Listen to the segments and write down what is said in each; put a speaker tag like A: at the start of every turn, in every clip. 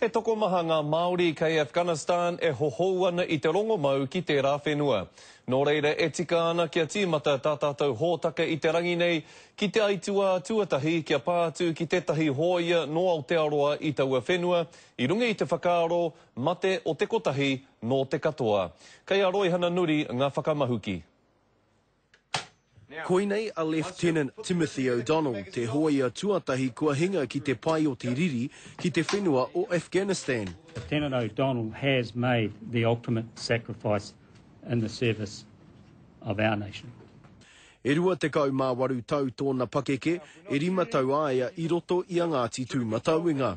A: He tokomaha ngā Māori kei Afghanistan e hohou ana i te rongomau ki tērā whenua. Nō reira e tika ana kia tīmata tā tātou hōtaka i te rangi nei ki te aituā tuatahi kia pā atu ki tētahi hōia nō Aotearoa i taua whenua i runga i te whakaaro mate o te kotahi nō te katoa. Kei a Roihana Nuri ngā whakamahuki.
B: Koinei a Lieutenant Timothy O'Donnell, te hōia tuatahi kua hinga ki te pae o te riri ki te whenua o Afghanistan. Lieutenant O'Donnell
C: has made the ultimate sacrifice in the service of our nation. E 28
B: tau tōna pakeke, e rima tau a ia i roto i a Ngāti Tūmatauenga.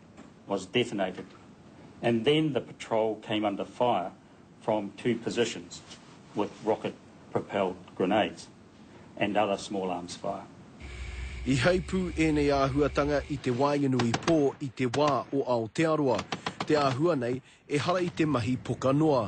C: was detonated and then the patrol came under fire from two positions with rocket propelled grenades and other small arms fire. I
B: heipū ēnei āhuatanga i te waenganui pō i te wā o Aotearoa, te āhua nei ehara i te mahi poka noa.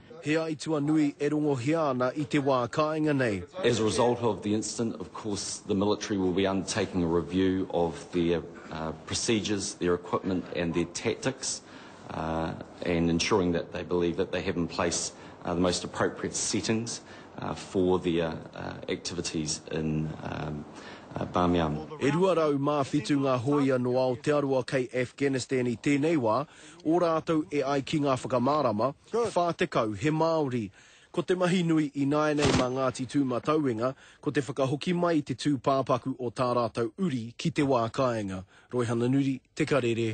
C: He aituā nui
B: e rongohia ana i te wā kāinga nei. As a result of the
D: incident, of course the military will be undertaking a review of their procedures, their equipment and their tactics and ensuring that they believe that they have in place the most appropriate settings for their activities in Bamyan. E
B: 207 ngā hōia nō Aotearoa kei Afghanistan i tēnei wā, ō rātou e ai ki ngā whakamārama, Whā tekau, he Māori. Ko te mahi nui ināianei mā Ngāti Tūmatauenga, ko te whakahoki mai i te tūpāpaku o tā rātou uri ki te wā kāinga. Roihana Nuri, Te Karere.